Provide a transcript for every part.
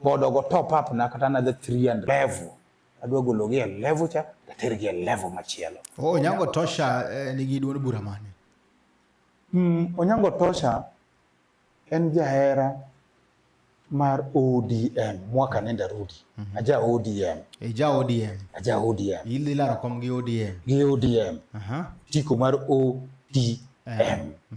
God ogo top up na kata another 300 level adwa gologi e level cha tatergi e level machielo. Oh, Onyango Tosha eh, nigi duond bura mane? Mm, Onyango Tosha en jahera mar ODM mwaka nenda rudi. Mm -hmm. Aja ODM. Eja ODM. Aja ODM. Ili laro kom gi ODM. Gi ODM. Aha. Uh -huh. Tiko mar ODM. M. Mm -hmm.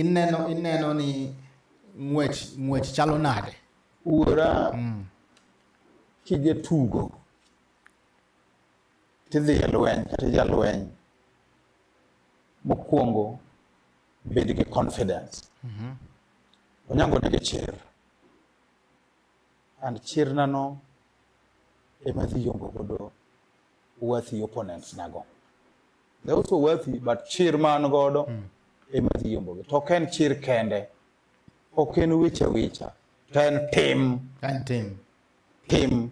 ineno ineno ni ng'wech ng'wech chalo nade wuora mm. kije tugo tidhi e lweny kata jalweny mokwongo bed gi confidence mm -hmm. onyango nigi chir and chirna no ema dhi yombo godo worthy opponents nago they also worthy but chir man godo mm. ema dhi yombo to ok en chir kende ok en weche wicha to en tim en tim tim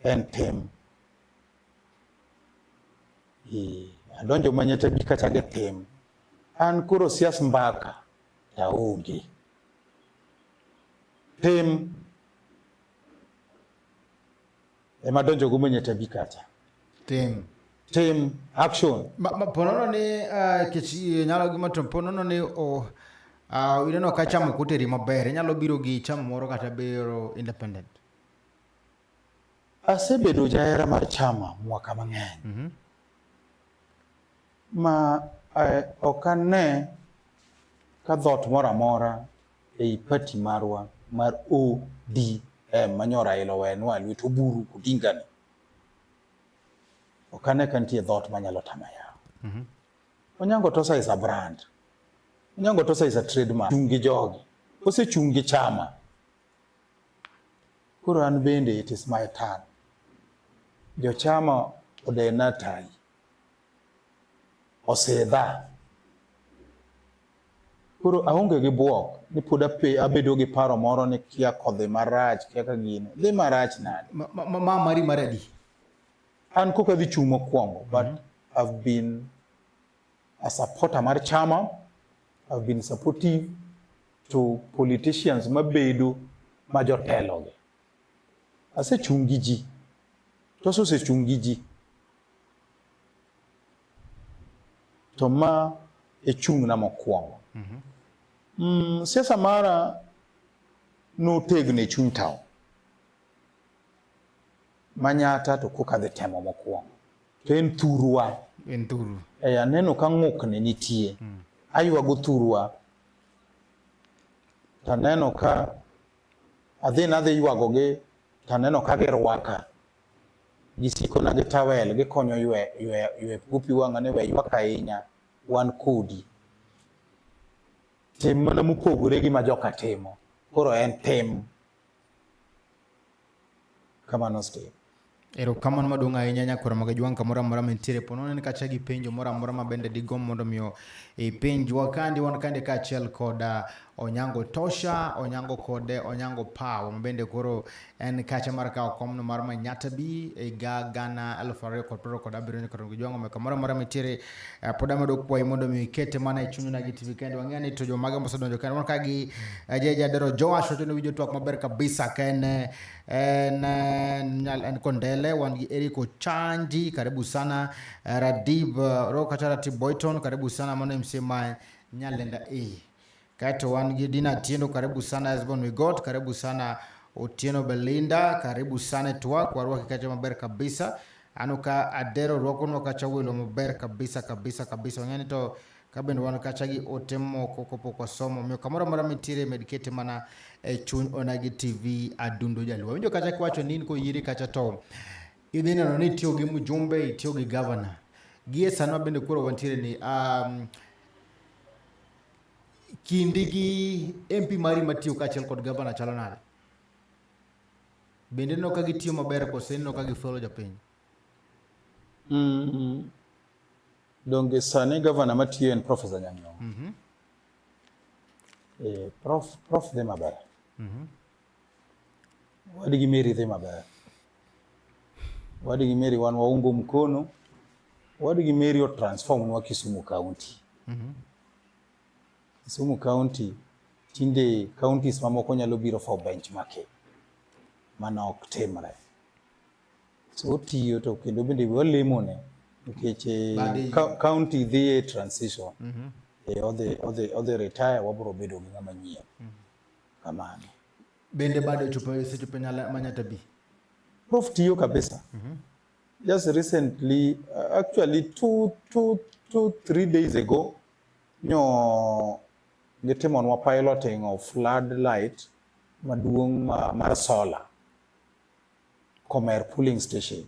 en tim adonjo manyete bi kacha gi tim an koro sias mbaka taonge. Pem ema donjo go mwenye tabi kacha. Tem. Tem action. Ma, ma ponono ni uh, ah, kichi eh, nyalo gima to ponono ni oh, uh, ineno ka chamo kuteri maber inyalo biro gi chamo moro kata biro independent asebedo jahera mar chama mwaka mang'eny mm -hmm. ma eh, ok ane ka dhot moro amora ei pati marwa mar ODM manyo Raila owenwa lwet oburu Odingani ok ane ka nitie dhot manyalo tama yawo mm -hmm. Onyango Tosa is a brand Onyango Tosa is a trademark chung' gi jogi osechung' gi chama koro an bende it is my turn jochama odena tayi osedha koro aonge gi bwok ni pod abedo gi paro moro ni kia kodhi marach kia ka gini dhi marach nade ma mari mar adi an koka dhi chung' mokwongo but mm -hmm. I've been a supporter mar chama I've been supportive to politicians mabedo ma jotelogi asechung' gi ji to asesechung' gi ji To ma e chung'na mokwongo. Mm -hmm. Mm, siasa mara notegno e chuny taon. Manyata to koka dhi temo mokwongo. To en thurwa. En thuru. E, aneno ka ng'ukni nitie. Mm. Aywago thurwa. To aneno ka adhi nadhi ywagogi to aneno ka girwaka. Gisikona gi tawel, gikonyo ywe, ywe, ywe gopi wang'a ni we ywak ahinya, wan kodi. Tim mana mopogore gi ma joka timo. Koro en tim. Kamano Steve. Erokamano maduong' ahinya nyakwar maga jwang' kamoro amora mantiere po nonen kacha gi penjo moro amora ma bende digom mondo miyo ipenjwa kandi wan kande kaachiel koda Onyango Tosha, Onyango kode Onyango Power ma bende koro en kacha mar kawo komno mar Manyatta B e ga gana elfu ariyo kod piero kod abiriyo nyaka rongo jwang'o meka moro amora mitiere eh, pod amedo kwayi mondo mi ikete mana e chunyu na gi TV kende wang'eyo ni to jomaga mosedonjo kende mondo ka gi eh, jeje adero Joash wacho ni winjo twak maber kabisa ka en eh, en eh, nyal- en Kondele wan gi Eric Ochanji karibu sana eh, Radib eh, Ro kata Ratib Boyton karibu sana mano MCMI Nyalenda E Kato wan gi Dina Tiendo, karibu sana Husband we got, karibu sana Otieno Belinda, karibu sana Twa kwa ruwa kikacha maber kabisa. Ano ka Adero ruwako nwa kacha welo maber kabisa kabisa kabisa. Wanyani to kabende wan kacha gi ote moko kopo kwa somo. Miyo kamora mora mitire medikete mana e chuny onagi TV adundo jaluwa. Winjo kacha kiwacho nini ko yiri kacha to idhi neno ni itiyo gi mjumbe, itiyo gi governor. Gie sanwa bende kuro wantiere ni um, Kindi gi MP mari matiyo kaachiel kod gavana chalo nade? Bende no ka gitiyo maber kose no ka gifuelo jopiny? Mm -hmm. Donge sani gavana matiyo en Professor Nyang'nyong'. Mm -hmm. Eh, prof, prof dhi maber. Mm -hmm. Wadgi Mary dhi maber. Wadgi Mary wan waungo mkono. Wadgi Mary otransform nwa Kisumu County. Mm -hmm. Kisumu County tinde counties mamoko nyalo biro for benchmarking. Mano ok timre. So otiyo to kendo bende walemone nikech eh, county dhi e transition. Mm -hmm. E odhi odhi odhi retire wabro bedo gi ng'ama nyien. Mm -hmm. kamano bende bado chupa hiyo sichupa nyala manya tabi prof tiyo kabisa mm -hmm. just recently uh, actually two, two, two, three days ago nyo gitimonwa piloting of flood light maduong' ma, mar solar Komer pooling station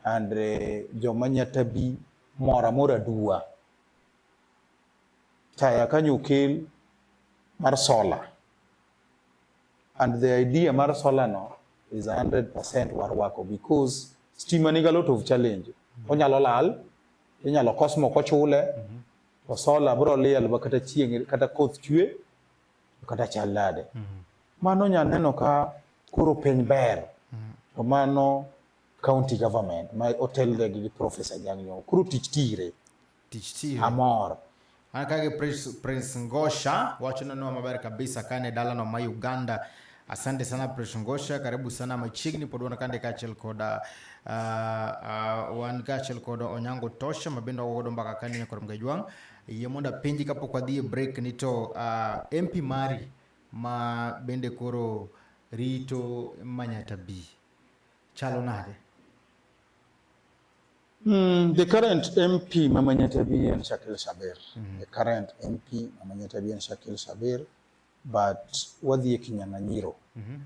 and uh, joma nyatabi mora mora duwa taya kanyo okel mar sola and the idea mar sola no is 100% warwako because stima niga lot of challenge onyalo lal inyalo kos moko chule mm -hmm. to sola bro liel ba kata chieng kata koth chwe kata chal nade mm -hmm. mano nya neno ka koro piny ber mm -hmm. to mano county government ma otelnegi gi professor Nyang'nyong koro tich tire tich chiro. Amor. An kagi Prince, Prince Ngosha wacho nonwa maber kabisa kane dalano ma Uganda. Asante sana Prince Ngosha, karibu sana machiegni pod wan kande kaachiel koda uh, uh, wan kaachiel koda Onyango Tosha mabende wagodo mbaka kane nyakor Mgejwang'. Yie mondo apenji kapok wadhi e break ni to uh, MP mari ma bende koro rito Manyatta B chalo nade? Mm, the current MP Mama Nyatabi and Shakil Shabir. Mm. The current MP Mama Nyatabi and Shakil Shabir, but Wadhi Kinyang'anyiro. Mm -hmm.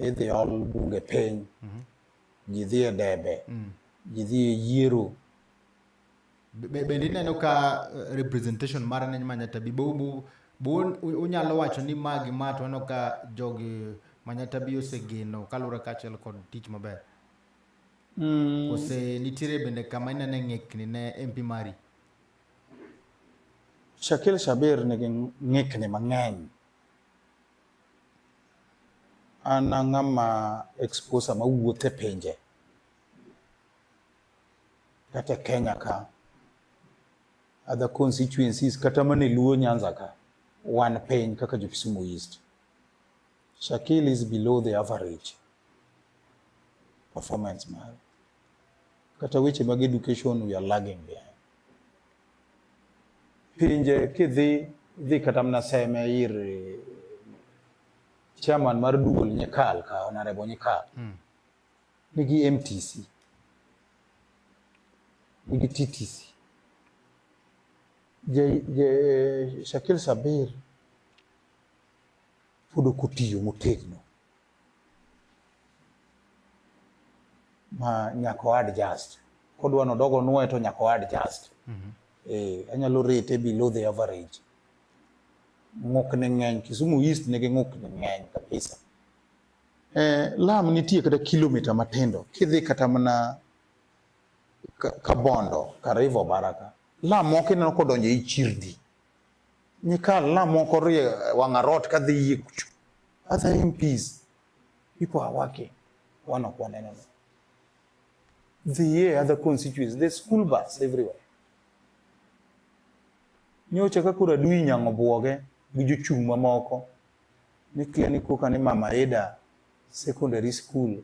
E they all bunge piny. Mm -hmm. Jidhie debe. Mm. Jidhie yiero. Bende ineno ka eh, representation mar ne Mama Nyatabi bobu bo unyalo wacho ni magi ma to aneno ka jogi Mama Nyatabi osegeno kaluwore kaachiel kod tich maber. Mm. Kose nitiere bende kama inene ng'ikni ne MP mari? Shakil Shabir nigi ng'ikni mang'eny. An ang'ama exposa ma wuoth e pinje. Kata e Kenya ka. Other constituencies kata mana e Luo Nyanza ka. Wan piny kaka jo Kisumu East. Shakil is below the average. performance mare kata weche mag education we are lagging behind. Pinje kidhi dhi kata mna seme ir eh, chairman mar duol Nyekal ka Honorable Nyekal mm. nigi MTC nigi TTC je, je eh, Shakil Sabir pod ok otiyo motegno ma nyaka o adjust kodwa ni odog onwoye to nyaka o adjust mm -hmm. eh, anyalo rate below the average ng'okne ng'eny Kisumu East nigi ng'okne ng'eny kabisa eh, lam nitie kata kilomita matindo kidhi kata mana Kabondo ka River Baraka lam moko ineno kodonjo i chirni Nikal na moko rie wangarot ka dhi yie kucho. Other MPs, people are working. One of one another. The year other constituencies, the school bus everywhere. Nyocha ka kura dui nyango buoge gi jochung' mamoko ni kia ni koka ni Mama Eda secondary school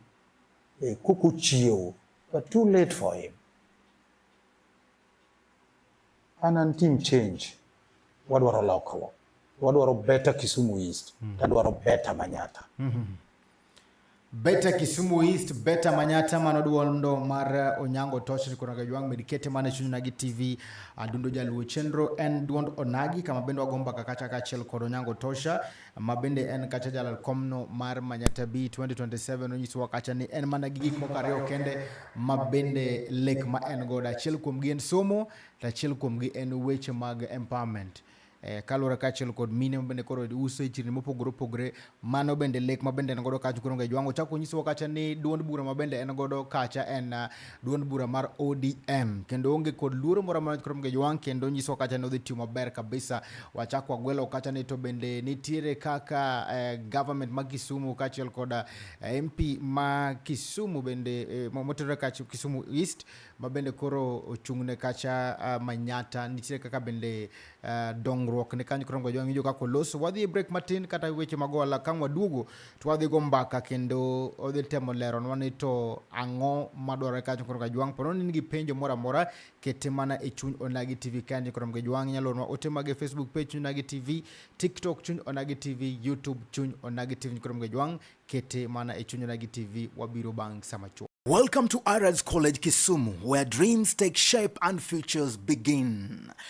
e kuku chiewo but too late for him an an team change wadwaro lokruok wadwaro better Kisumu East mm. tadwaro better Manyata mm -hmm. Beta Kisumu East, Beta Manyata mano duondo mar uh, Onyango Tosh nikono ga jwang medikete mane chunyo nagi TV adundo uh, jaluo chenro en duond onagi kama bendo agomba kakacha kachel kod Onyango Tosha ma bende en kacha jalal komno mar Manyata B 2027 onyisowa kacha ni en mana gi gik moko ariyo kende ma bende lek ma en godo. Achiel kuomgi en somo, to achiel kuomgi en weche mag empowerment. Eh, kaluwore kaachiel kod mine mabende koro uso e chirni mopogore opogore mano bende lek mabende en godo kacha koro ngejwango chako nyisowa kacha ni duond bura mabende en godo kacha en ah, duond bura mar ODM kendo onge kod luoro moro amora koro mge jwang kendo nyiso kacha ni odhi tiyo maber kabisa. Wachak wagwelo kacha ni to bende nitiere kaka eh, government ma Kisumu kaachiel kod eh, MP ma Kisumu bende eh, motenore kacha Kisumu East ma bende koro ochung'ne kacha uh, Manyata nitiere kaka bende uh, dongruok ne kanyo koro mge jwang ijo kaka oloso. Wadhi e break matin kata weche magola kang' waduogo to wadhi go mbaka kendo odhi temo leronwa ni to ang'o madwarore kacho koro kajwang' pono ni nigi penjo moro amora kete mana e chuny onagi tv kanyo koro mgejwang' inyalo ornwa ote mag e facebook page chuny onagi tv tiktok chuny onagi tv youtube chuny onagi tv koro mgejwang' kete mana e chuny onagi tv wabiro bang' sama chuo Welcome to Aras College Kisumu, where dreams take shape and futures begin.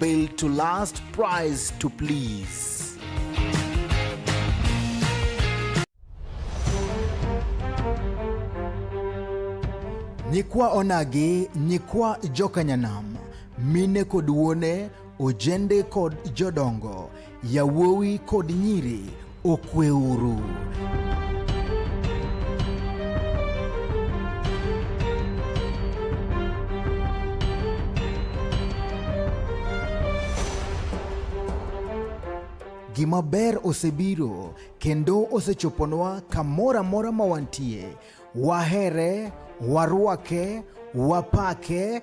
built to last, price to please. nyikwa onagi nyikwa jokanyanam mine kod wuone ojende kod jodongo Yawuowi kod nyiri okweuru. Gima ber osebiro kendo osechoponwa kamoro amora ma wantie. Wahere, warwake, wapake,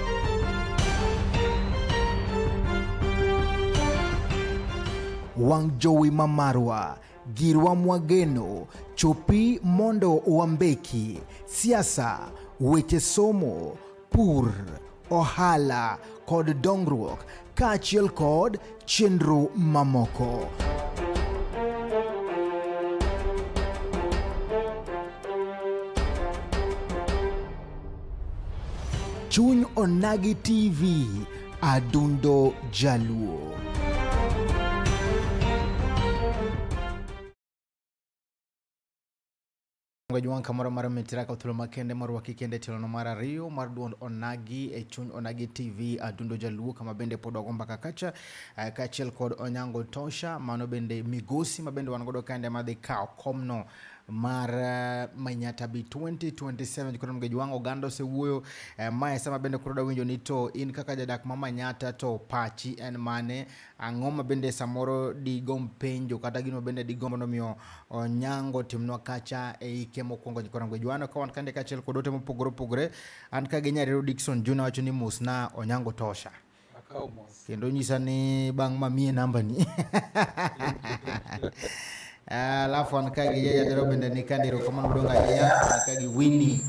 wang' jowi ma marwa girwa mwageno chopi mondo wambeki siasa weche somo pur ohala kod dongruok kaachiel kod chenro mamoko. Chuny Onagi TV, Adundo Jaluo. Mchungaji wang' kamoro mar mitira ka thuolo makende morwaki kende e tielo mar ariyo mar duond Onagi e chuny Onagi TV Adundo Jaluo kama bende pod wago mbaka kacha eh, kaachiel kod Onyango Tosha mano bende migosi ma bende wan godo kande madhi kawo komno mar eh, Manyata bi 2027 koro mgeji wang' oganda osewuoyo eh, mae sama bende koro dawinjo ni to in kaka jadak ma Manyata to pachi en mane Ang'o ma bende samoro digom penjo kata gino bende digombo nomiyo onyango timnwa kacha e ike mokwongo korango Johana ka wan kande kachiel kod ote mopogore opogore an ka gi nyarero Dickson Juna wacho ni musna onyango tosha kendo nyisa ni bang' ma mie namba ni alafu an ka gi yadero bende ni kandiro kamano donga ya an ka gi Winnie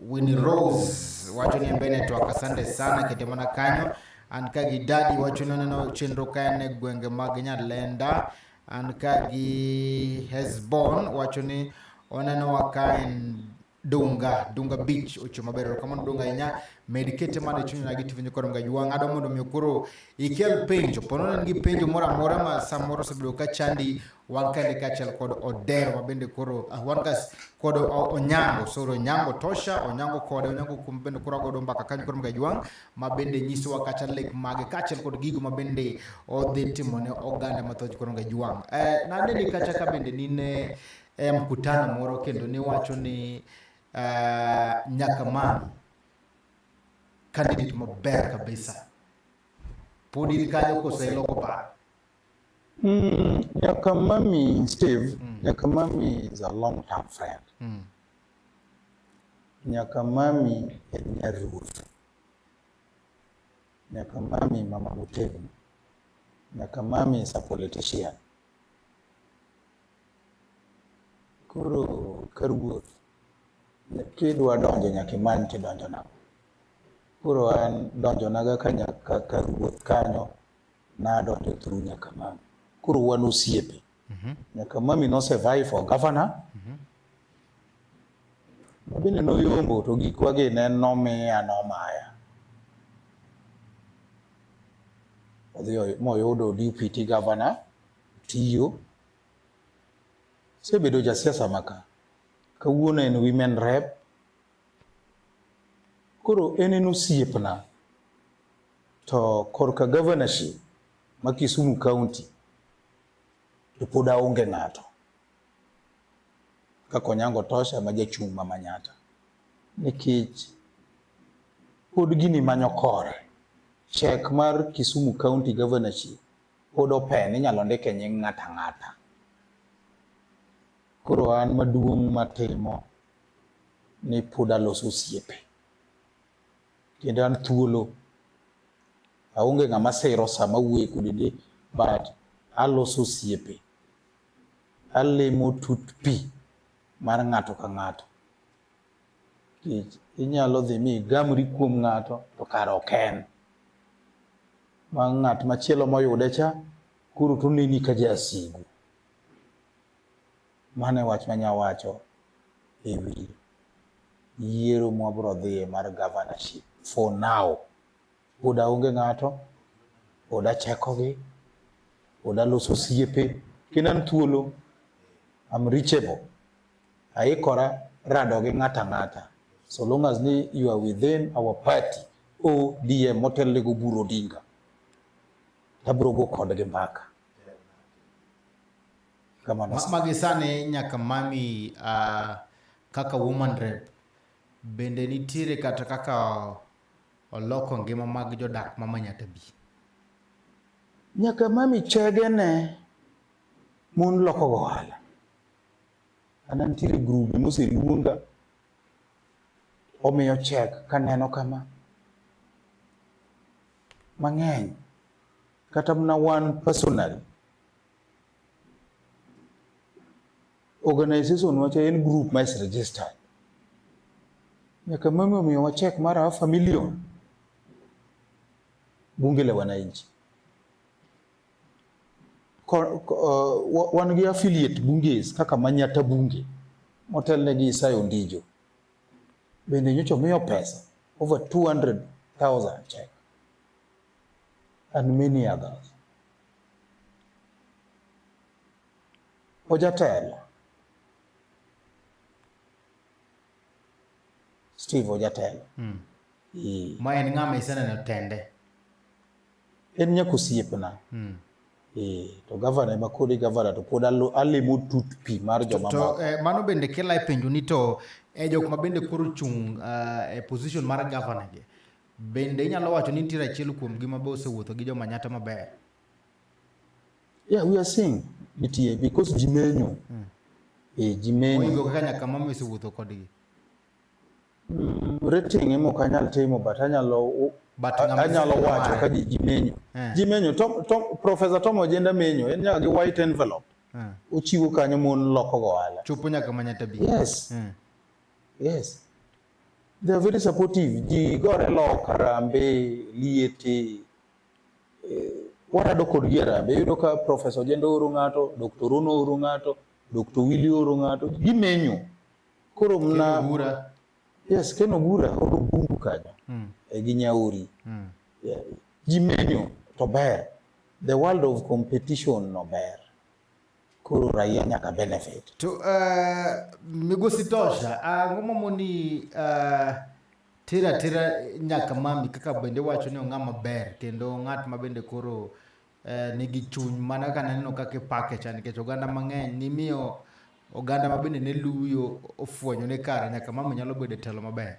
Winnie Rose wacho ni embe network asante sana kitimona kanyo an ka gi dadi wacho ni oneno chenro ka en e gwenge mag Nyalenda an ka gi Hesbon wacho ni oneno wa ka en Dunga Dunga Beach ocho maber erokamano Dunga ahinya med kete mana e chunya nagi tiwinjo kod mga jwang' ado mondo omiyo koro ikel penjo pono ne en gi penjo moro amora ma samoro osebedo ka chandi wan kende kaachiel kod Odero ma bende koro ah, wan ka kod Onyango soro Onyango Tosha Onyango kode Onyango kum bende koro agodo mbaka kanyo koro mga jwang' ma bende nyisowa kata lek mage kaachiel kod gigo ma bende odhi timo ne oganda mathoth koro mga jwang' eh, naneni kacha ka bende nine eh, mkutano moro kendo niwacho ni eh, nyaka mani candidate maber kabisa pod in kanyo koseloko paro Mm, Nyakamami, Steve, mm. Nyakamami is a long-term friend. Mm. Nyakamami en nyaruoth. Nyakamami mama motegno. Nyakamami is a politician. Koro ka ruoth kidwa donjo nyaka imany kidonjo nang'o. Koro an donjonaga ka nyaka ka ruoth kanyo nadonjo through nyaka mami koro wan osiepe mhm. nyaka mami nosevae for governor mhm. mabende noyombo to gikwa gi ne nomiya nomaya odhi moyudo deputy governor tiyo sebedo jasiasa maka kawuono en women rep Koro en en osiepna to korka governorship ma Kisumu County to pod aonge ng'ato kaka Onyango Tosha ma jachung' ma Manyatta nikech pod gini manyo kore chek mar Kisumu County governorship pod open inyalo ndike nying' ng'ata ng'ata. Koro an maduong' matimo ni pod aloso osiepe kendo an thuolo aonge ng'ama siro sama wuoye kode de but aloso osiepe alimo tut pi mar ng'ato ka ng'ato kech inyalo dhi mi igamri kuom ng'ato to kare ok en ma ng'at machielo moyude cha koro toneni ka jasigu Mano e wach manya wacho e wi yiero mwabro dhiye mar governorship for now. Pod aonge ng'ato, pod achekogi, pod aloso osiepe, kendo an thuolo, I'm reachable. Aikora rado gi ng'ata ng'ata. So long as ni you are within our party, ODM motelne go Oburu Odinga, tabro go kodgi mbaka. Magisane nyaka mami uh, kaka woman rep bende nitiere kata kaka oloko ngima mag jodak ma Manyatabi? Nyaka mami chege ne mon loko ohala. Ana nitiere grube moseluonga omiyo chek kaneno kama mang'eny kata mna one personal organization wacha en group ma is registered nyaka mimi omiyo wachek mara half a million bunge la wananchi uh, wan gi affiliate bunges kaka Manyata bunge motelne gi Isayo Ndijo bende nyocha omiyo pesa over 200,000 check and many others. Ojatelo Steve Ojatelo mm. e. ma en ng'ama iseneno tende en nyaka osiepna mm. e. to gavana ema kodi gavana to pod alimo tut pi mar joma to, to, eh, mano bende kela e penjo ni to eh, jok ma bende koro chung uh, e position mar gavana gi Bende inyalo wacho ni nitiere achiel kuomgi ma be osewuotho gi jomanyata maber? Yeah, we are seeing nitie because ji menyo. Mm. E, ji menyo. Oingo kaka nyaka mama osewuotho kodgi. Mm, rating emo ok anyal timo but anyalo but anyalo wacho ka ji, ji menyo. Yeah. Ji menyo to, to Professor Tom Ojenda menyo en nyaka gi white envelope. Yeah. Ochiwo kanyo mon loko go ala. Chopo nyaka manyata bi. Yes. Yeah. Yes. They are very supportive. Ji gore lok, Harambee, Liete. Eh, warado kodgi Harambee. Iyudo ka Professor Ojende ooro ng'ato, Dr. Rono ooro ng'ato, Dr. Willy ooro ng'ato. Gimenyo. Koro mna... Bura. Yes, Ken Obura oro bungu kanyo. Mm. E gi Nyauri. Mm. Yeah. Gimenyo to ber. The world of competition no ber. koro raia nyaka benefit to uh, migosi tosha uh, ang'o mamoni uh, tira tira nyaka mami kaka bende wacho ni ong'a maber kendo ng'at ma bende koro uh, nigi chuny mana ka naneno kaka ipake cha nikech oganda mang'eny nimiyo oganda ma bende ne luyo ofwenyo ni kare nyaka mama nyalo bedo e telo maber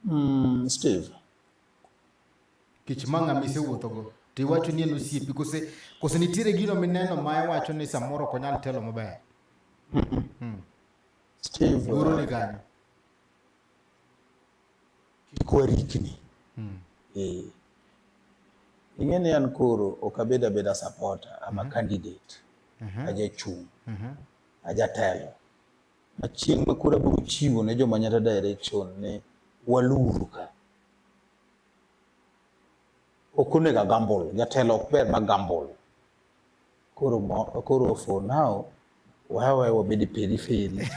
mm, steve kech ma ng'ama isewuothogo to iwacho ni en osiepi kose kose nitiere gino mineno ma iwacho ni samoro ok onyal telo maber hmm. goro ni kanyo kik warikni hmm. eh. ing'e ni an koro ok abed abeda supporter ama mhm. candidate mhm. ajachung' mhm. ajatelo achieng' ma koro abiro chiwo ne joma nyata direction ni waluru ka ok onego agambol jatelo ok ber ma gambol koro koro for now wawe wabed periferi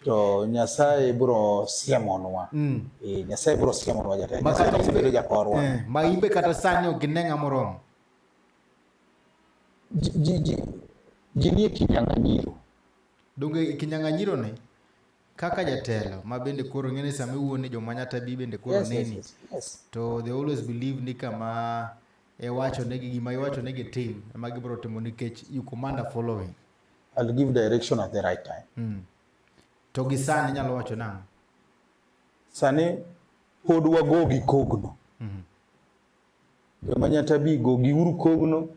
to nyasaye bro siemonwa mm. e, nyasaye bro siemonwa jatelo jakorwa eh, ma imbe kata sani ok gine ng'a moromo ji nie kinyang'anyiro donge kinyang'anyiro ne kaka jatelo ma bende koro ng'e ni sama iwuo ni joma nyata bi bende koro yes, neni yes, yes, yes. to they always believe ni kama iwacho negi gima iwacho negi tim ema gibiro timo nikech you command a following I'll give direction at the right time mm. to gi sani nyalo wacho nang'o sani pod wago gi kogno mm -hmm. joma nyata bi go gi uru kogno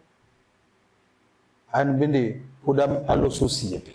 an bende pod aloso osiepe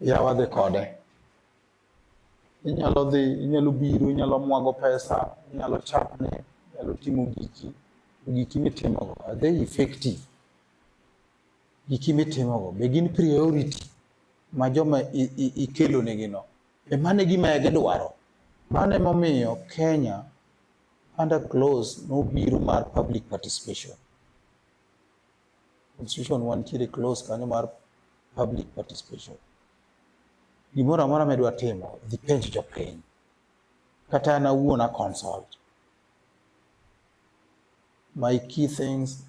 yawa dhi kode inyalo dhi inyalo biro inyalo mwago pesa inyalo chapne inyalo timo giki giki mitimogo are they effective giki mitimogo be gin priority ma joma i- i- ikelonegino be mano e gima gidwaro mano emomiyo kenya under close nobiro mar public participation constitution wantiere close kanyo mar public participation. Gimoro amora midwa timo, dhi penj jopiny. Kata an awuon a consult. My key things,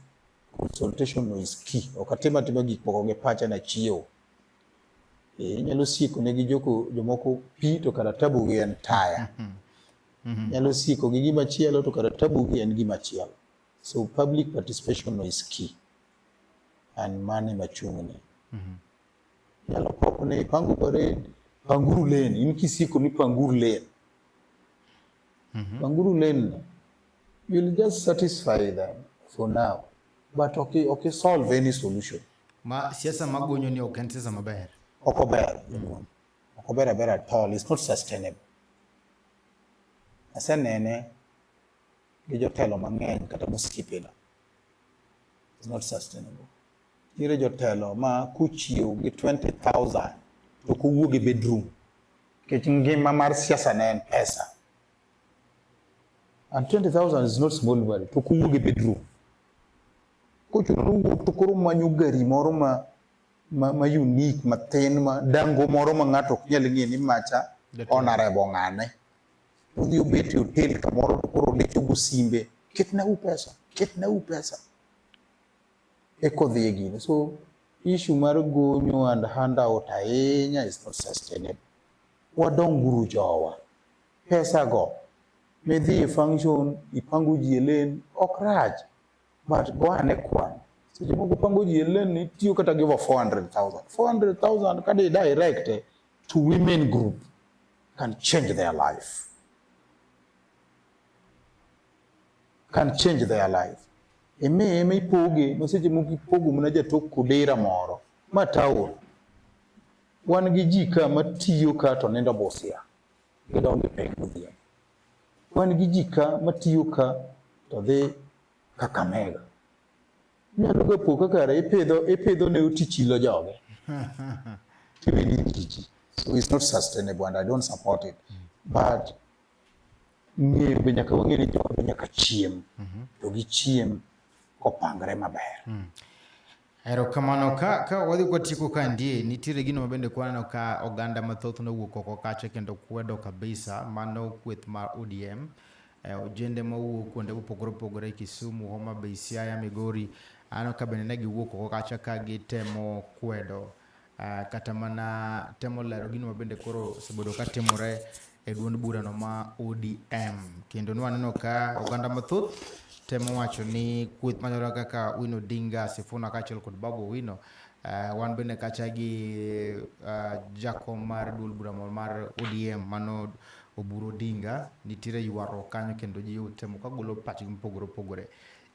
consultation is key. Ok atima tima gik moko gi pacha na chiewo. Eh, inyalo sieko ne gi joko jomoko pi to kata tabu gi en taya. Mm-hmm. Mm-hmm. Inyalo sieko gi gima chielo to kata tabu gi en gima chielo. So public participation is key and mane machung'ne mm -hmm. yalo koko ne ipango parade panguru lane in kisiko ni panguru lane mm -hmm. panguru lane you'll just satisfy them for now but okay, okay solve any solution ma siasa magonyo ni ok en siasa maber ok ober mm -hmm. ok ober aber at all it's not sustainable asenene gi jotelo mang'eny kata mosipina is not sustainable nitiere jotelo ma kuchiew gi 20000 to kowuog e bedroom nikech ngima mar siasa ne en pesa and 20000 is not small money to kowuog e bedroom kochuno nowuok to koro manyo gari moro ma ma, ma unique matin ma dango moro ma ng'ato ok nyal ng'e ni macha onarebo ng'ane Udhi ubet e hotel kamoro to koro lechogo simbe, ketna u pesa, ketna u pesa. Eko dhi e gino. So issue mar gonyo and handout ahinya is not sustainable. Wadonguru jowa. Pesa go midhi e function ipango ji e lane ok rach but go ane kwan seche moko pango ji e lane itiyo kata gi over 400,000 400,000 kada i direct to women group can change their life. Can change their life. Eme eme ipoge, maseche moko ipogo mana jatok kodera moro, ma taon. Wan gi ji ka matiyo ka to nindo Busia, gidonjo e pek modhiambo. Wan gi ji ka matiyo ka to dhi Kakamega. Nyalo ga po kaka re ipidho ipidho ne uti chilo joge. Kibidi kiji. So it's not sustainable and I don't support it. But ng'e be nyaka wang'e ni jowa be nyaka chiem. Mhm. To gi chiem kopangre maber. Mm. Erokamano ka ka wadhi kwa tieko ka ndie nitiere gino mabende kwaneno ka oganda mathoth nowuok oko kacha kendo kwedo kabisa mano kweth mar ODM eh, ojende mawuok kuonde mopogore opogore Kisumu, Homa Bay, Siaya, Migori aneno ka bende ne giwuok oko kacha ka gitemo kwedo uh, kata mana temo lero gino mabende koro osebedo ka timore e duond burano ma ODM kendo nwaneno ka oganda mathoth temo wacho ni kweth machalo kaka Wino Dinga Sifuna kaachiel kod Babu Wino uh, eh, wan bende kacha gi uh, jakom mar duol bura mar ODM mano Oburu Odinga, nitiere ywaruok kanyo kendo ji otemo ka golo pachgi mopogore opogore.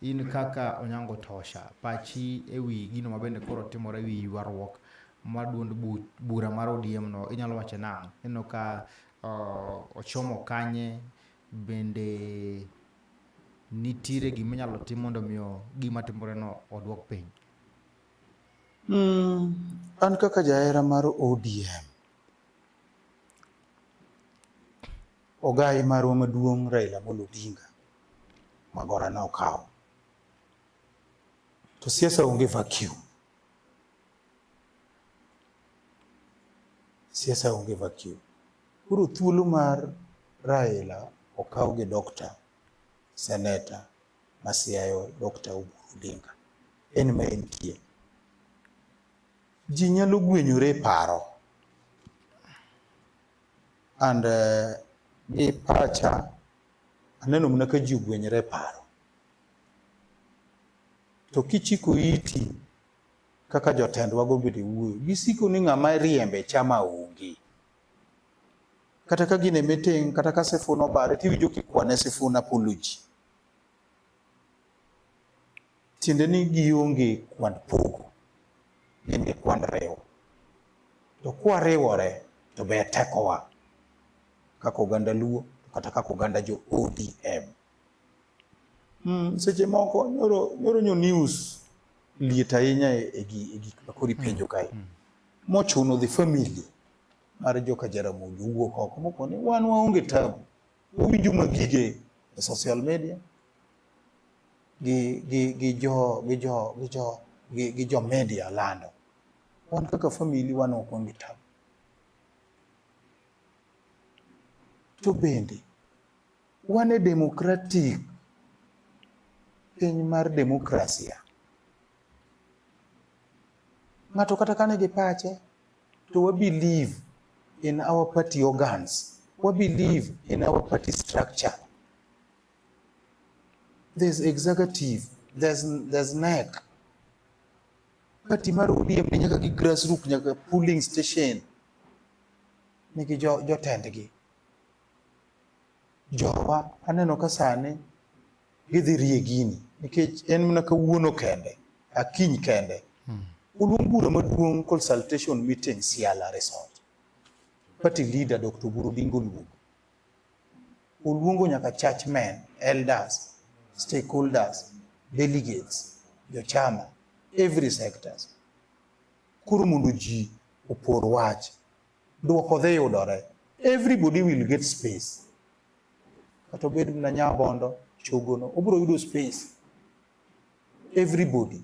In kaka Onyango Tosha, pachi e wi gino ma bende koro timore e wi ywaruok ma duond bu- bura mar ODM no inyalo wacho nang'? Ineno ka uh, ochomo kanye bende nitiere gima inyalo tim mondo omiyo gima timore no odwok piny. Mm, an kaka jahera mar ODM Ogayi marwa maduong' Raila Amolo Odinga magora ne okawo. To siasa onge vacuum. Siasa onge vacuum. Koro thuolo mar Raila okaw gi Dr. Seneta Masiayo Dr. Oburu Odinga. En ma entie. Ji nyalo gwenyore e paro and uh, e pacha aneno mana ka ji ogwenyore e paro to kichiko iti kaka jotendwa gobede wuoyo gisiko ni ng'ama riembe chama onge kata ka gine meeting kata ka sifuna obare tiwinjo kikwane sifuna apology tiende ni gionge kwand pogo gin gi kwand riwo to kwariwore to ber tekowa kaka oganda luo kata kaka oganda jo odm mm, seche moko nyoro, nyoro nyo news liet ahinya e, e, e gik makori hmm. penjo kae mm. mochuno the family mar joka jaramogi owuok oko moko ni wan waonge tabu winjo ma gige e social media gi gi gi jo gi jo gi jo gi, gi jo media lando wan kaka famili wan ok wan gi tabu to bende wan e demokratik piny mar demokrasia ng'ato kata kane gi pache to we believe in our party organs, we believe in our party structure. There's executive, there's, there's NEC. Party mar ODM ni nyaka gi grassroots nyaka polling station nigi jotendgi. Jowa aneno ka sani gidhi rie gini nikech en mana kawuono kende akiny kende hmm. oluong bura maduong' consultation meeting Siala Resort party leader Dr. Oburu Odinga oluongo oluongo nyaka church men elders stakeholders delegates jochama every sectors koro mondo ji opor wach dwoko dhi yudore everybody will get space kata obed na nyabondo chogono obiro yudo space everybody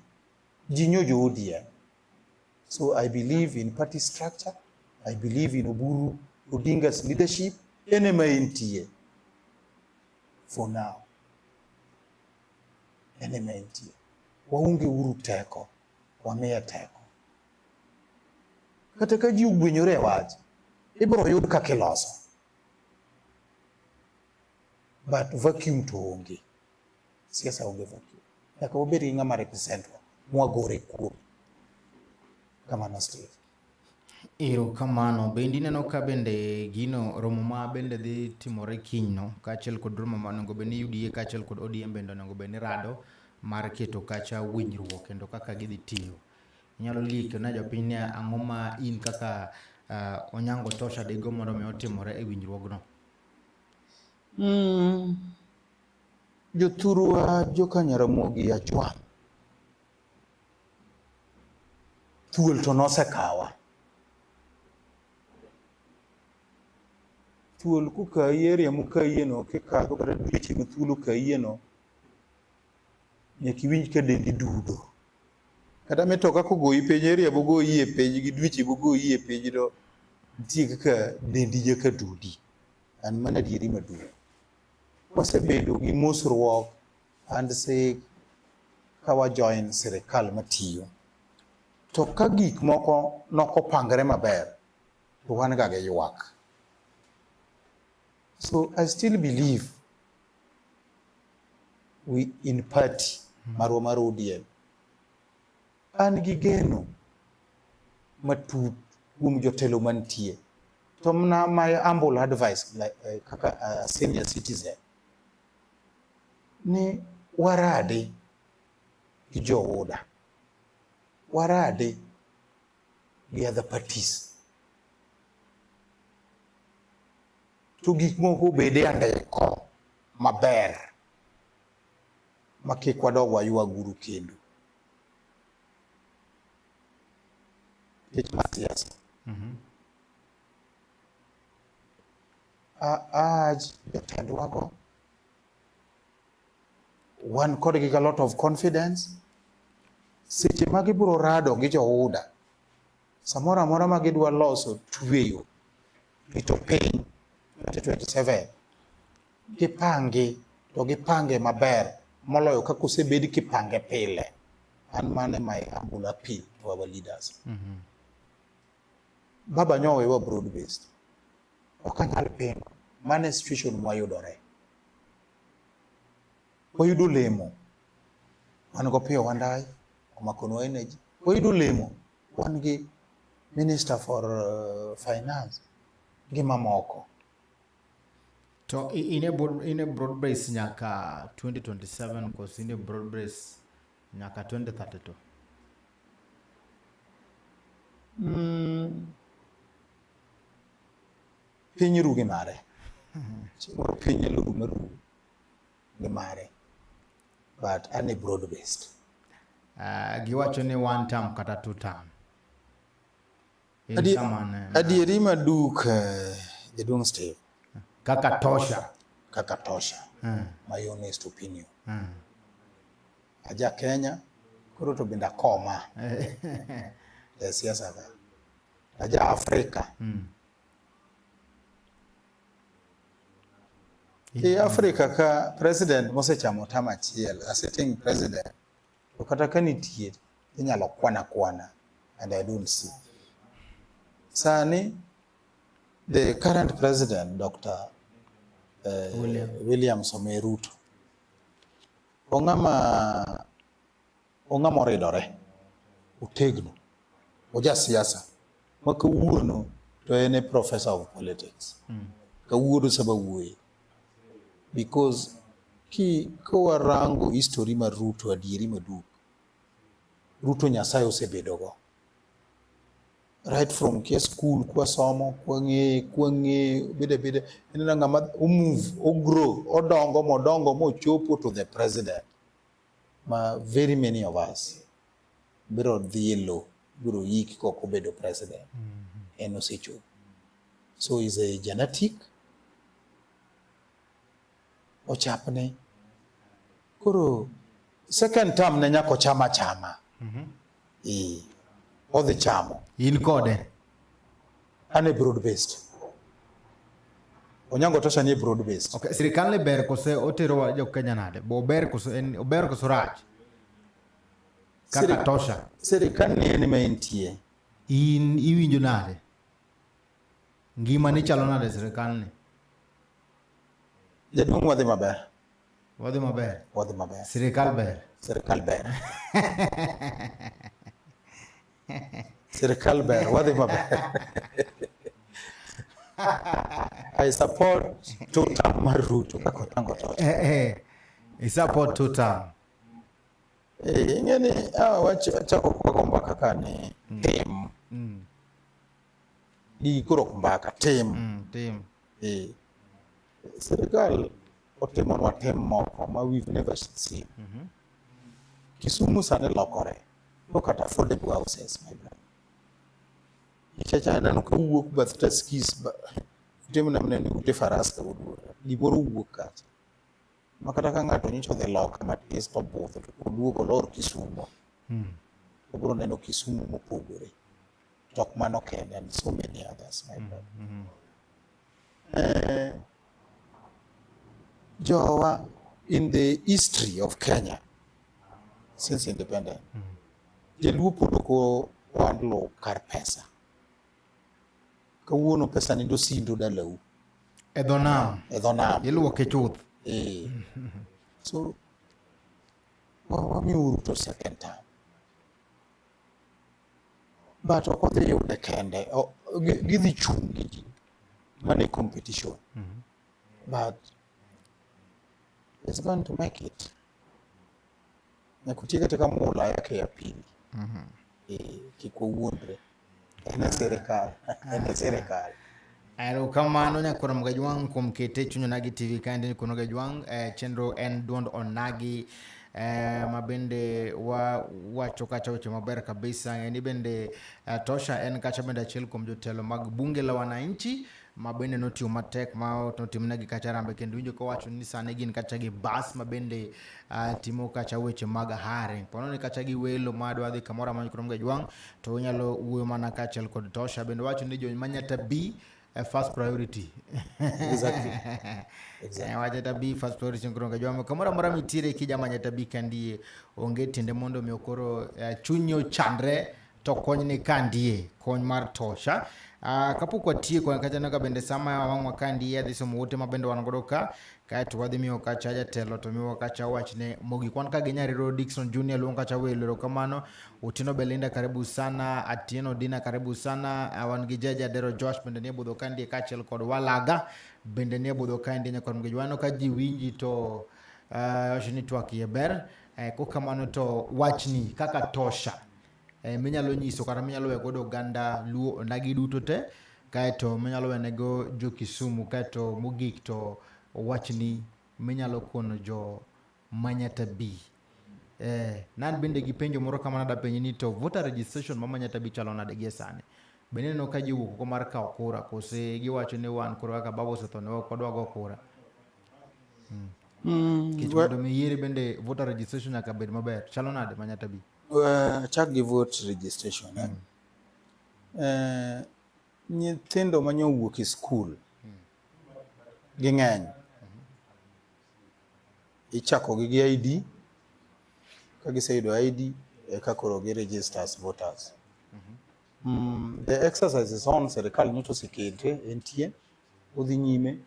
ji nyo jo ODM so I believe in party structure I believe in Oburu Odinga's leadership ene ma entie for now ene ma entie waonge uru teko wamiye teko kata ka ji ogwenyore e wach ibiro yud kaka iloso but vacuum to onge, siasa onge vacuum. Nyaka wabed gi ng'ama representwa mwagore kuom kamano Steve. Ero kamano bende ineno ka bende gino romo ma bende dhi timore kiny no kaachiel kod romo ma onego bed ni UDA kaachiel kod ODM bende onego bed ni rado mar keto kacha winjruok kendo kaka gidhi tiyo. Inyalo lik na jopiny ni ang'o ma in kaka uh, Onyango Tosha digo mondo mi otimore e winjruogno? Mm. Jothurwa joka Nyaramogi Achwang' thuol to nosekawa thuol kukayi e area mukayiyeno kikadho kata dweche ma thuol okayieno nyaka iwinj ka dendi dudo. Kata mitoka kogoyi piny, area bogoyi e piny, gi dweche bogoyi e piny, to nitie kaka dendi nyaka dudi. An mano adieri maduong'. Wasebedo gi mosruok and sik ka wajoin sirikal matiyo. To ka gik moko nokopangre maber, to wan ga gi ywak. So I still believe wi in party hmm. marwa mar ODM. An gi geno matut kuom jotelo mantie to mna my humble advice like, uh, kaka uh, senior citizen ni warade gi jooda warade gi other parties to gik moko obed e andiko maber ma kik wadog waywa guru kendo tich mar siasa mhm. aaj jotendwago wan kodgi ga lot of confidence seche ma gibiro rado gi jouda samoro amora ma gidwa loso tweyo rito piny 2027 gipangi to gipange maber moloyo kaka osebed kipange pile an mane my humble appeal to our leaders mm -hmm. baba nyowe wa broad based ok anyal pingo mane situation mwayudore wayudo olemo wan go piyo wandayi omakonwa energy wayudo olemo wan gi minister for uh, finance gi mamoko to in a, in a broad base nyaka 2027 kos in a broad base nyaka 2032 mm. piny rugi mare piny rugi marugi ni mare but ane broad based uh, giwacho ni one term kata two term Adi, eh, adieri maduk uh, eh, jaduong steve kaka tosha kaka tosha hmm. my honest opinion hmm. aja kenya koro to bende akoma e siasa ka aja afrika hmm. Ki Africa ka president mosechamo tam achiel, a sitting president, to kata ka nitie, inyalo kwana kwana and I don't see. Sani, the current president, Dr. Uh, eh, William. William Samoei Ruto, ong'ama Ong'a moridore, otegno, oja siasa ma kawuono to en e professor of politics. Mm. Kawuono sama wuoye. Because ki kawarango history mar Ruto adieri maduk, Ruto Nyasaye osebedogo. Right from kia school, kwa somo, kwa ng'eye, kwa ng'eye, bide bide, enena ng'ama omove, ogrow, odongo, modongo, mochopo to the president. ma very many of us biro dhi e lo biro yik kok obedo president mm -hmm. en osechopo so is a genetic ochapne koro second term ne nyako chama chama mm -hmm. e, odhi chamo in kode Ane broad based. Onyango tosha ni broad based. Okay, sirikal ne ber kose otero wa jo Kenya nade? Bo ber kose en ober kose rach. Kaka tosha. Sirikal ni en me entie. In iwinjo nade? Ngima ni chalo nade sirikal ni? Jaduong' wadhi maber. Wadhi maber. Wadhi maber. Sirikal ber. Sirikal ber. Sirkal ber, wadhi maber. I support two term mar Ruto kaka otango to. Eh, eh. I support two term. Eh, ingeni hawa wacho chako kwa komba kaka ni mm. team. Mm. Di kuro komba ka team. Mm, team. Eh. Sirkal otimonwa tem moko ma we've never seen. Mm -hmm. Kisumu sani lokore. Look at affordable houses, my brother. Nikech aneno ka wuok bath taskis ute mana mana ni ute faras ka wuduora. Gimoro wuok kacha. Ma kata ka ng'ato nyicho odhi loka matis to budho to oduogo olor Kisumo. Hmm. Obiro neno Kisumu mopogore. to ok mano kende and so many others my brother. Mm -hmm. eh, jowa in the history of Kenya since independent mm -hmm. jaluo pod ok wandlo kar pesa kawuono pesa ni dosindo dalau e dho nam e dho nam iluoke chuth eh. so wamiuru to second time but ok odhi yude kende gidhi chung' gi ji mane competition mm-hmm. but it's going to make it nyakutie kata ka mula yake ya pili mm-hmm. eh, kik wawuondre en e sirikal en e sirikal Erokamano nyakwar Mgajwang' kuom kete chuny Onagi TV kaendi ni kuno Gajwang' eh, chenro en duond Onagi eh, ma bende wa wacho kacha weche maber kabisa ng'eni bende eh, Tosha en kacha bende achiel kuom jotelo mag bunge la wananchi ma bende notiyo matek ma notimnegi kacha rambe kendo winjo kowacho ni sani gin kacha gi bas ma bende uh, timo kacha weche mag hiring pono ni kacha gi welo ma dwa dhi kamoro amora kurom Gajwang' to unyalo wuoyo mana kaachiel kod tosha bende wacho ni jony manyata bi eh, first priority exactly. exactly. Eh, wachata bi first priority nkoronga jwamo kamoro amora mitiere kija manyata bi kandie onge tiende mondo mi okoro eh, chunyi ochandre to kony ni kandie kony mar tosha Uh, kapok watieko kata naga bende sama wang'wa ka ndiye adhi somo wote ma bende wan godo ka kaeto wadhi miyo kacha jatelo to miwa kacha wachne mogik wan ka gi nyariro dikson junior luong kacha welo erokamano otieno belinda karibu sana atieno dina karibu sana Ah, wan gi jaja dero josh bende nie budho kandie kaachiel kod walaga bende nie budho kandie nyakon mgeji wano ka ji winji to ah, wacho ni twak iye ber Eh, kokamano to wachni kaka tosha eh, minyalo nyiso kata minyalo we godo oganda luo onagi duto te kaeto minyalo wenego jo kisumu kaeto mogik to wachni minyalo kono jo manyata bi eh, nan bende gi penjo moro kamano dapenji ni to voter registration ma manyata bi chalo nade gie sani bende neno ka jiwuok oko mar kawo kura kose giwacho ni wan koro kaka baba osetho ne ok wadwa go kura hmm. Hmm, Kech mondo mi yiere bende voter registration nyaka bed maber chalo nade manyata bi Uh, chak gi vote registration eh? mm. uh, nyithindo ma nyo wuok e skul mm. ging'eny mm-hmm. ichakogi gi ID ka giseyudo ID eka koro gi register as voters mm-hmm. mm, the exercise is on serikal nyocha osekete entie odhi nyime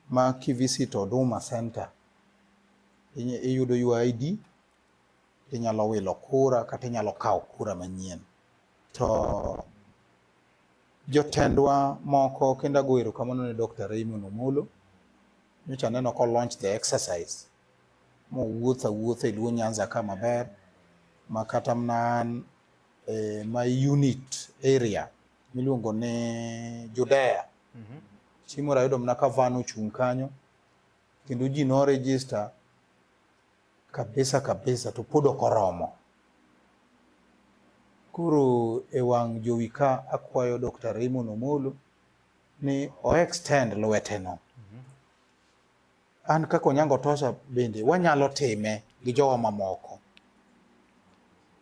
ma kivisit Huduma Center iyudo your ID inyalo wilo kura kata inyalo kawo kura manyien. To jotendwa moko kendo ago erokamano ne Dr. Raymond Omolo nyocha aneno ko launch the exercise mowuotho awuotha e Luo Nyanza ka maber ma kata mana an e, my unit area miluongo ni Judea mm -hmm. chieng' moro ayudo mana ka van ochung' kanyo kendo ji no register kabisa kabisa to pod ok oromo. Koro e wang' jowi ka akwayo Dr. Raymond Omolo ni o extend lweteno. Mhm. An kaka Onyango Tosha bende wanyalo time gi jowa mamoko.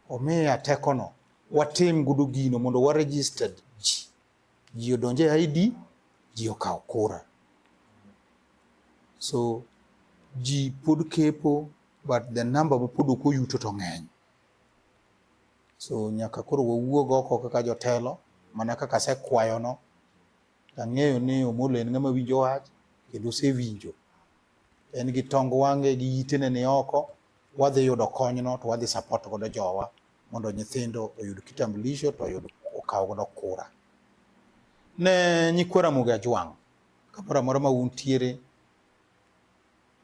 Omiya tekono watim gudo gino mondo wa registered ji odonje ID, ji okawo kura. So ji pod kepo but the number ma pod ok oyuto to ng'eny. So nyaka koro wawuog oko kaka jotelo mana kaka asekwayono, ang'eyo ni Omolo en ng'ama winjo wach kendo osewinjo. En gi tong wang'e gi itene ni oko, wadhi yudo konyno to wadhi support godo jowa mondo nyithindo oyud kitambulisho to oyud okaw godo kura. Ne nyikwa Ramogi Ajwang' kamoro amora ma untiere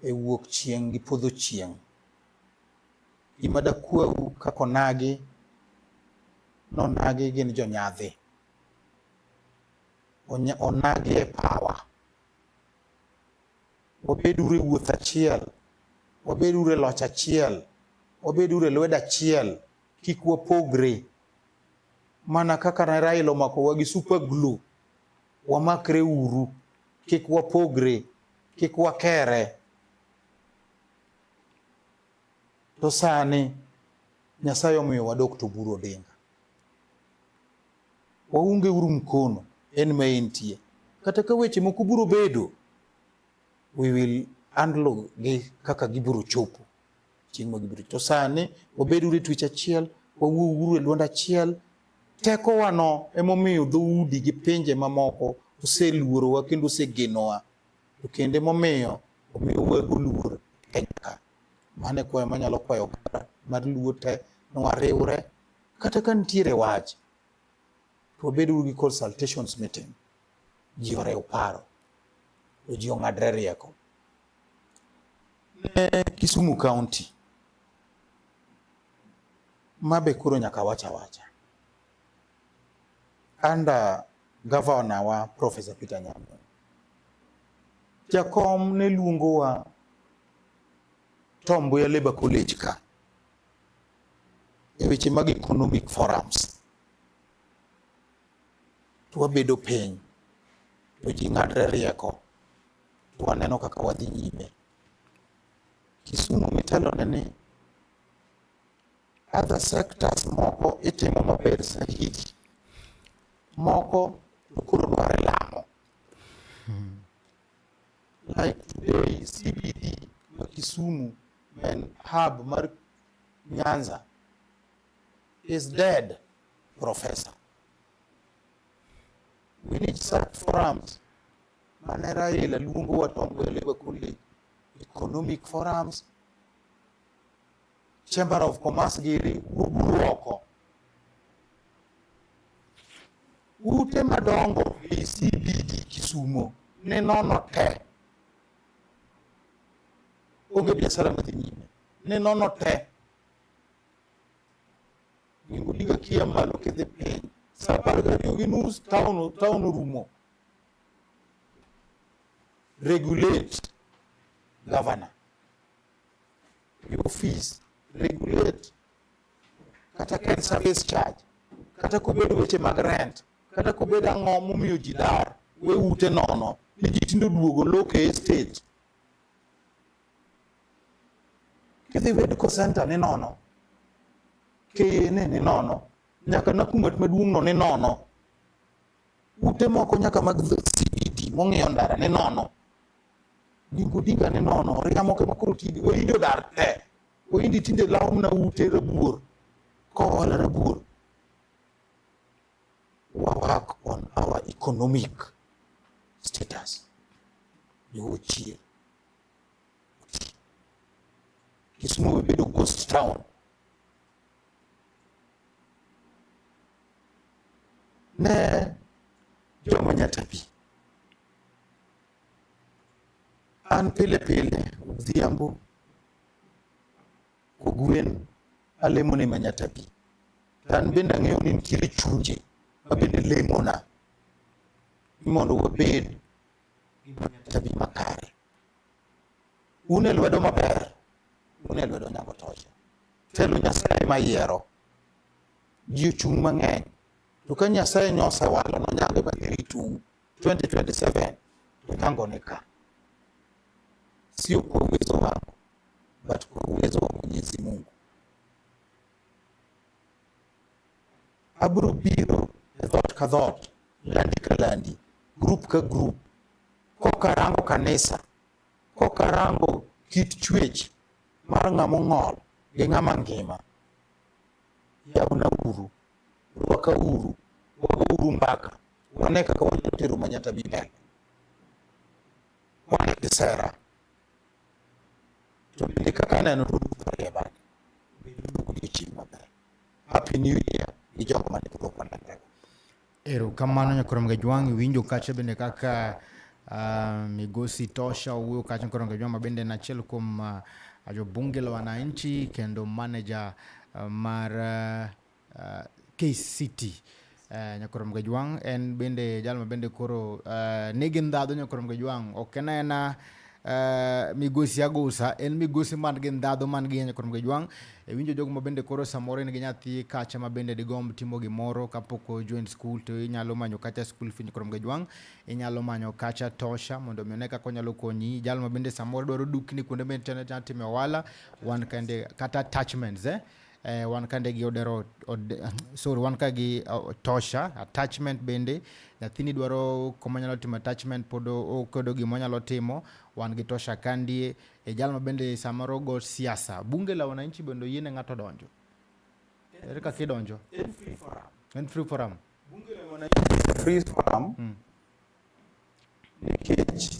e wuok chieng' gi podho chieng' gima dakwau kaka onagi nonagi gin jonyadhi onagi e pawa wabed uru e wuoth achiel, wabed uru e loch achiel, wabed uru e lwedo achiel, kik wapogre. Mana kaka ne Raila omakowa gi super glue, wamakre uru, kik wapogre, kik wakere. To sani Nyasaye omiyowa Dkt. Oburu Odinga. Waunge uru mkono en ma entie. Kata ka weche moko biro bedo, we will handle gi kaka gibiro chopo chieng' ma gibiro. To sani wabed uru e twech achiel, wawuo uru e dwond achiel. Tekowano emomiyo dhoudi gi pinje mamoko oseluorowa kendo osegenowa. To kendo emomiyo omiyo wago luor Kenya ka. Mano e kwayo manyalo kwayo oganda mar Luo te ni wariwre Kata ka nitiere wach, to wabed uru gi consultations meeting, ji orew paro, to ji ong'adre rieko. Ne Kisumu County, ma be koro nyaka wach awacha. Under governor wa Professor Peter Nyamwe, jakom ne luongowa Tom Mboya Labour College ka e weche mag economic forums to wabedo piny to ji ng'adre rieko to waneno kaka wadhi nyime. Kisumu mitelone ni other sectors moko itimo maber sahihi, moko to koro dware lamo. Like today CBD ma Kisumu en hub mar Nyanza is dead, Professor. We need such forums. Manera ile lungu watongwele kundi economic forums, Chamber of Commerce giri uburuoko. Ute madongo ACBD Kisumo ne nono te. Onge biashara madhi nyime. ne nono te gimbo diga kia malo kidhi piny sa apar gariyo gi nus taon taon orumo regulate governor your office regulate kata ken service charge kata kobedo weche mag rent kata kobedo ang'o momiyo ji dar we ute nono ni ji tindo duogo loke estate Kidhi medical center ni nono, kiyini ni nono, nyaka Nakumatt maduong' no ni nono. Ute moko nyaka mag CBD e mong'iyo ndara ni nono. Gingo dinga ni nono, oriya moko ema koro tinde, Wahindi odar te. Wahindi tinde lawo mana ute rabuor, kohola rabuor. Wa work on our economic status. Ni ochie. Kisumu imebedo ghost town. Ne joma nyatapi. An pile pile odhiambo kogwen alemo ne manyatapi. To an bende ang'eyo ni nitiere chunje ma bende lemona ni mondo wabed giminyatami makare un e lwedo maber un e lwedo nyago toche telo nyasaye mayiero ji ochung' mang'eny to ka nyasaye nyosewalo nonyage magiritu 2027 to nyango ni ka sio kwa uwezo wangu but kwa uwezo wa mwenyezi mungu Abiro biro e dhot ka dhot, landi ka landi, grup ka grup, kokarango kanisa, kokarango kit chwech mar ng'ama ong'ol gi ng'ama ngima. Yawna uru, rwaka uru, wago uru mbaka, wane kaka wanyalo tero Manyatta Bi mbele. Wane kisera, to bende kaka aneno to udhi e bade, bedo odiochieng' maber. Happy New Year ni jogo mane pok okwan Ndego. Erokamano Nyakwar Mgajwang', iwinjo kacha bende kaka uh, migosi Tosha owuoyo kacha Nyakwar Mgajwang' ma bende en achiel kuom uh, ah, jo bunge la wananchi kendo manager uh, mar uh, uh, KCT Eh, nyakorom gajwang en bende jal ma bende koro eh, nigi ndhadhu nyakorom gajwang ok en aena eh, migosi agosa en migosi man gi ndhadhu man gi nyakorom gajwang e winjo jogo ma bende koro samoro en gi nyathi kacha ma bende digomb timo gimoro kapok ojoin skul to inyalo manyo kacha skul fi nyakorom gajwang inyalo manyo kacha tosha mondo mi one kaka onyalo konyi jal ma bende samoro dwaro dukni kuonde bende tene timo ohala wan kende kata attachments eh? eh, wan ka ndege odero od, sorry wan ka gi uh, tosha attachment bende nyathini dwaro koma nyalo timo attachment pod okedo gima nyalo timo wan gi tosha kandie e jal ma bende samoro go siasa bunge la wananchi bende yiene ng'ato donjo ere kaka idonjo en free forum en free forum bunge la wananchi free forum mm. nikech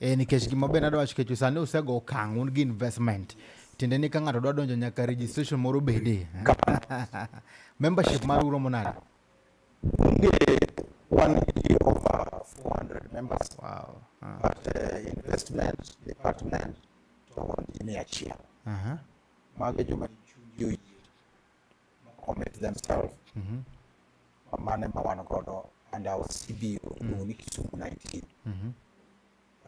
Eh, nikech gima be nadwa wacho kechu sani usego okang' un gi investment tiende ni ka ng'ato dwa donjo nyaka registration moro bede membership mar uro monade nge wan gi over 400 members wow. uh. but uh, investment department to wan gi mia achiel uh -huh. mago joma chunygi oyie commit themselves mm -hmm. mane ma wan godo and our CBO mm -hmm. ni Kisumu 19 mm -hmm.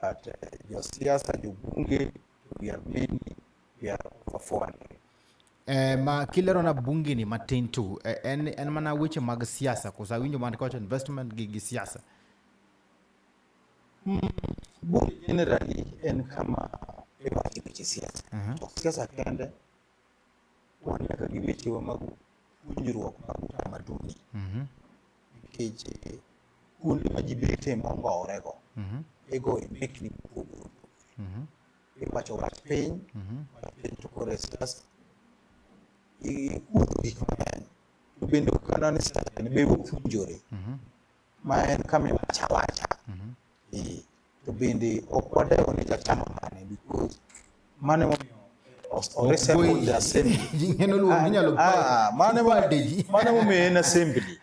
but uh, josiasa jobunge we are many we are over 400 Eh, ma kilero na bunge ni matin tu eh, en, en mana weche mag siasa kosa winjo man kocha investment gi, gi siasa mm, bunge generally en kama iwacho weche siasa uh -huh. siasa kende wan nyaka gi wechewa mag puonjruok mag utamaduni Mhm. nikech eh, kuonde ma ji bete mongowrego Mhm. igoye mbekni mopogore opogore Mhm. iwacho wach piny Mhm. wach piny to kod siasa ikuodho gik mang'eny to bende ok anani siasa ne be wapuonjore Mhm. ma en kama iwacho awacha Eh, to bende ok wadewo ni jachama mane because mano emomiyo os- o resemble the assembly Ng'eno luongo inyalo Ah, ah, mano emo- pade ji. mano emomiyo en assembly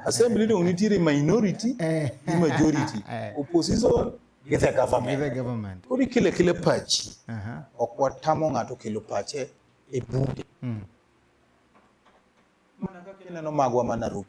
assembly dong nitiere minority Eh. gi majority Eh. opposition gi the With government the government. koro ikele kele pachi Aha. ok watamo ng'ato kelo pache e bunge Mm. mana kaka ineno magwa ma Nairobi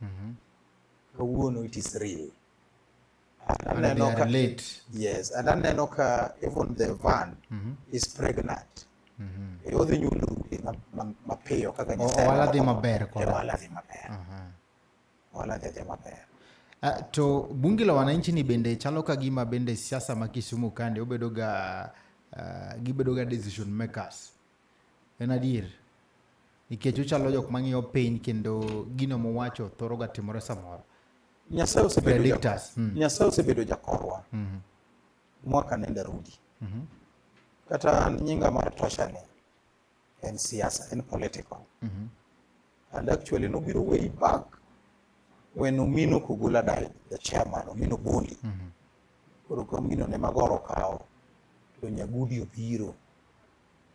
Mhm. kawuono it is real aneno ka late yes and aneno ka even the van mm -hmm. is pregnant mm -hmm. e odhi nyulo rude mapiyo kaka nyasaye wala dhi maber kwa e wala dhi maber uh -huh. wala dhi maber Uh, to bunge la wananchi ni bende chalo ka gima bende siasa ma Kisumu kande obedoga uh, gibedoga decision makers En adier. Nikech uchalo jok mang'iyo piny kendo gino muwacho thoro ga timore samoro. Nyasaye osebedo jakorwa. Hmm. Nyasaye osebedo jakorwa. Hmm. Mwaka nende rudi. Hmm. Kata nyinga mar tosha ni en siasa, en political. Mm-hmm. And actually nobiro way back when Omino Kugula died, the chairman, Omino Boli. Mm-hmm. Koro ka Omino ne magoro kawo to Nyagudi obiro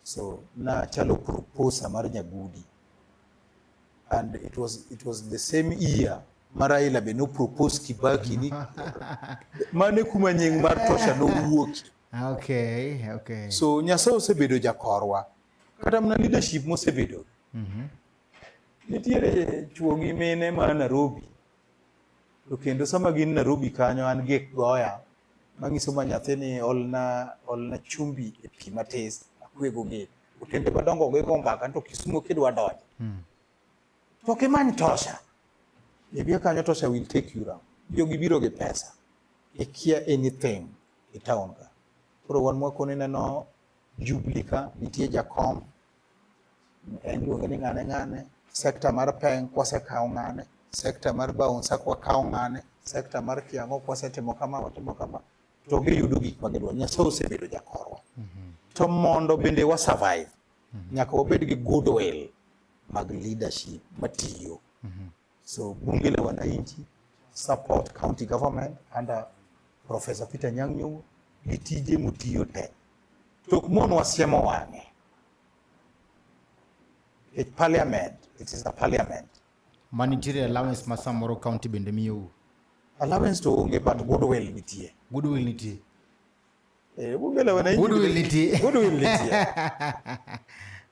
So nachalo proposer mar Nyagudi and it was, it was the same year ma Raila be nopropose Kibaki ni mane kuma nying mar Tosha nowuoki. Okay, okay. So Nyasaye osebedo jakorwa kata mana leadership mosebedo. Mm -hmm. Nitiere chuo gi mine ma Nairobi To kendo sama gin Nairobi kanyo an gi goya manyiso ma nyathi ni olna olna chumbi e pi matis akwego gi otende madongo gi go mbaka to Kisumo kidwa donjo. Hmm. To kimany tosha. Ibia e kanyo tosha will take you round. Jogi biro gi pesa. Ikia anything e town ka. Koro wan mwakone neno Jubilee ka nitie jakom en luonge ni ng'ane ng'ane sekta mar peng kwasekawo ng'ane sekta mar baunsa kwakawo ng'ane sekta mar kiang'o kwasetimo kama watimo kama to giyudo gik ma gidwaro nyasaye osebedo jakorwa mhm. to mondo bende wa survive mhm. nyaka wabed gi goodwill mag leadership matiyo mhm. So bunge la wananchi support county government under Professor Peter Nyang'nyong'o gi tije motiyo te to ok mon wasiemo wang'e e parliament it is a parliament manitiere allowance ma samoro county bende miyou allowance to onge but goodwill nitie goodwill nitie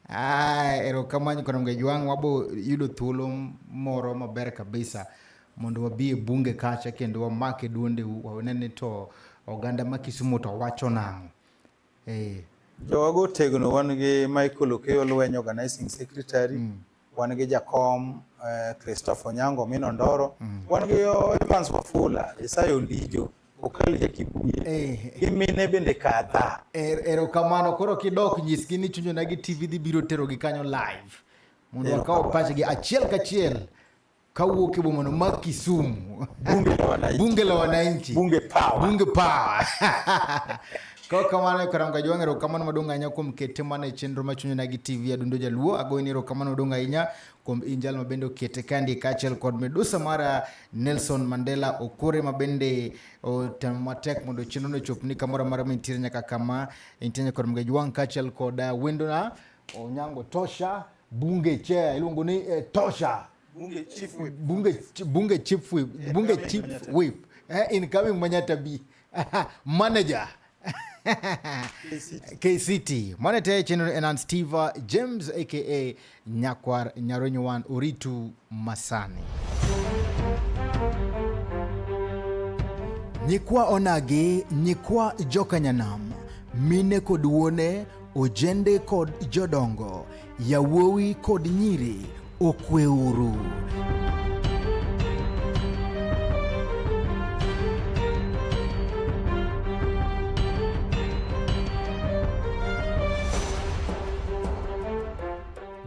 Ah, erokamano kono mga jwang wabo yudo thuolo moro maber kabisa mondo wabi e bunge kacha kendo wamake duondeu wanene to oganda ma Kisumu to wacho nang'o eh. jowago tegno wan gi Michael Okeyo Lweny organizing secretary mm. wan gi jakom eh, Christopher Onyango Mino Ndoro, mm. wan gi oh, Evans Wafula, Isaya Ondijo, Okal Jakibuye eh. gi mine bende kadha. Er, erokamano, koro kidok nyisgi ni chunyona gi TV dhi biro terogi kanyo live mondo wakaw pachgi achiel kachiel Kawuok e boma no ma Kisumu. Bunge la wananchi. Bunge la wananchi. Bunge power. Bunge power. Kwa kamano karam ka jwang'ero kamano maduong' ahinya kuom kete mana e chenro machuny nagi TV adundo jaluo agoyni ero kamano maduong' ahinya kuom injal mabende okete kandi kaachiel kod medusa mara Nelson Mandela Okore mabende otemo matek mondo chenro no chopni kamoro amora ma intiere nyaka kama intiere nyaka kod mga jwang' kaachiel kod uh, wendona Onyango Tosha Bunge chair iluongo ni eh, Tosha. Bunge chief whip. Bunge, bunge chief whip. Bunge chief whip. Eh, incoming Manyata B. Manager. KCT Monete General Enan Steva James aka Nyakwar Nyaronyowan Oritu Masani. Nyikwa onagi, nyikwa joka nyanam, mine kod wuone Ojende kod jodongo, yawuowi kod nyiri, okweuru.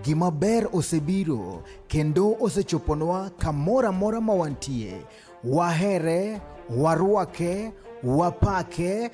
Gima ber osebiro kendo osechoponwa kamoro amora ma wantie. Wahere, warwake, wapake,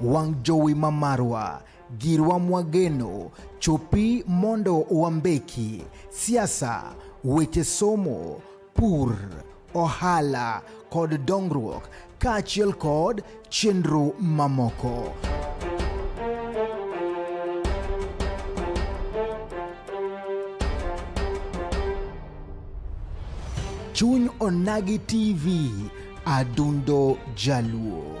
wang' jowi ma marwa girwa mwageno chopi mondo wambeki siasa weche somo pur ohala kod dongruok kaachiel kod chenro mamoko. Chuny Onagi TV, Adundo Jaluo.